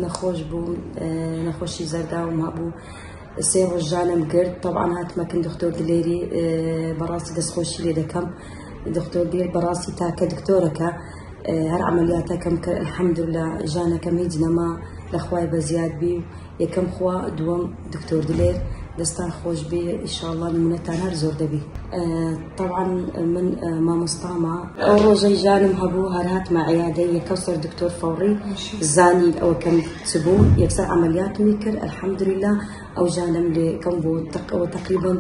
نەخۆش بووم نەخۆشی زەرداوم هەبوو سێ ڕۆژ ژانم گرت تەوان هاتمەکن دکتۆر دلێری بەڕاستی دەستخۆشی لێ دەکەم دکتۆر دێر بەڕاستی تاکە دکتۆرەکە هەر عملیاتەکەم کە الحمدلله ژانەکەم هیچ نەما لەخوای بە زیاد بی یەکەم خوا دووەم دکتۆر دلێر دەستان خۆش بێ ئیشاءاللە نمونەتان هەر زۆر دەبی طبعا من مامۆستاما ئەو ڕۆژەی ژانم هەبوو هەر هاتمە عیادە یەکەو سەر دکتۆر فەوڕی زانی ئەوە کەم چ بوو یەکسەر عملیاتمی کرد الحمدلله ئەو ژانم لێ کەم بوو تەقەوە تقریبا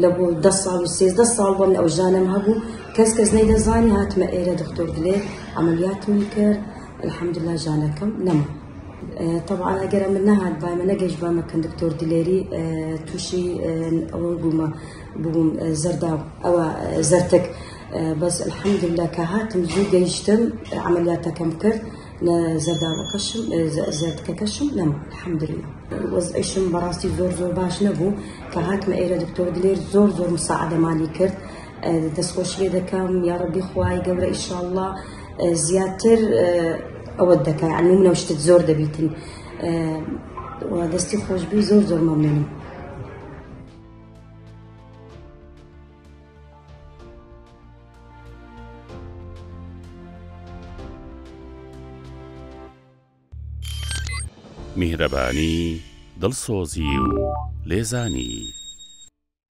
لە بۆ ده ساڵ و سێزدە ساڵ بۆ ئەو ژانم هەبوو کەس کەس نەیدەزانی هاتمە ئێرە دکتۆر دلێر عملیاتمی کرد الحمدلله ژانەکەم نەما طبعا ئەگەر ئەمە نەهات بامە نەگەشت بامە کەن دکتۆر دلێری تووشی ئەوە بوومە بووم زەردا ئەوە زەرتک بەس الحەمدللا کە هاتم زوو گەیشتم عملیاتەکەم کرد لە زەرداوەکەشم زەردکەکەشم لەم الحەمدللا وەزعیشم بەڕاستی زۆر زۆر باش نەبوو کە هاتمە ئێرە دکتۆر دلێر زۆر زۆر مساعدەمانی کرد دەستخۆشیێ دەکەم یاڕبی خوای گەورە ئیشاء الله زیاتر ئەوە دەکە ئەنی منەو شتت زۆر دەبیتن دەستی خۆشببی زۆر زۆر مەمنم. میهرەبانی دڵسۆزی و لێزانی